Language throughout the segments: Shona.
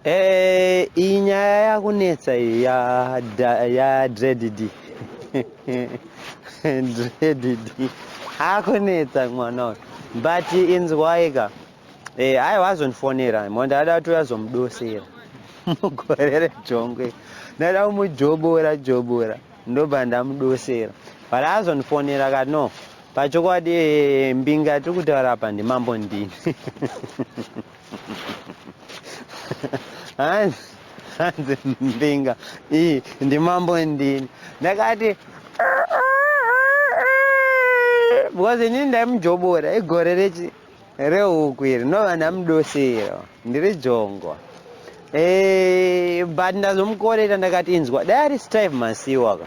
Eh, iyi nyaya yakunetsa iyi ya da- ya dreadidi dreadidi akunetsa mwana uyu but inzwaika eh, aiwa azondifonera mo ndada kuti azomudosera mugore rejongwe ndada kumujobora jobora ndobva ndamudosera but azondifonera ka no pachokwadi eh, mbinga tiri kutaura apa ndimambo ndini hanzi mbinga iyi ndimambo ndini ndakati because inini ndaimujobora igore rechi rehuku iri ndova ndamudosera ndiri jongo eh, but ndazomukorera ndakati inzwa dai ari steve masiwaka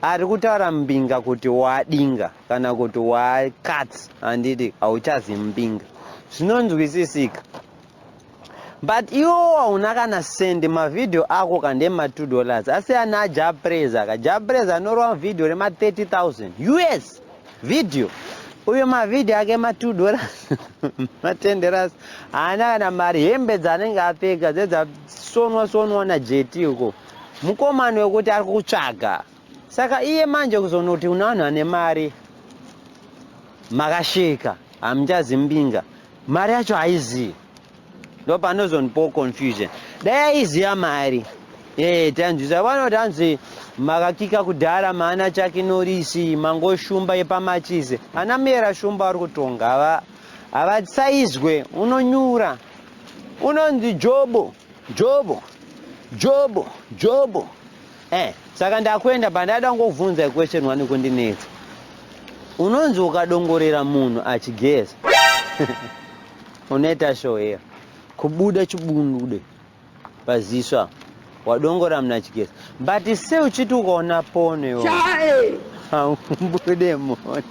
ari kutaura mbinga kuti wadinga kana kuti why cut handiti hauchazi mbinga zvinonzwisisika but iwo hauna kana send mavhidhiyo ako ka ndema 2 dollars asi ana japreza ka japreza anorova vhidhiyo rema 30000 us vhidhiyo uyo mavhidhiyo ake ma 2 dollars ma 10 dollars haana kana mari hembe dzaanenge apfeka dzedzasonwa sonwa najeti uko mukomano wekuti ari kutsvaga Saka iye manje kuzonoti une vanhu vane mari makasheka hamuchazi mbinga mari yacho haizivi ndo panozondipawo confusion dai aiziva mari ee tanzwisa vanoti hanzi makakika kudhara maana chake norisi mangoshumba yepamachizi ana muyera shumba ari kutonga havasaizwe unonyura unonzi jobo Jobo, Jobo, Jobo. Eh, saka ndakuenda pandada kungokubvunza question one kundinetsa. Unonzi ukadongorera munhu achigeza. Unoita show here? Kubuda chibundude paziso apo. Wadongora munhu achigeza. But se uchiti ukaona pono iwe. Chae. Haubude mhoni.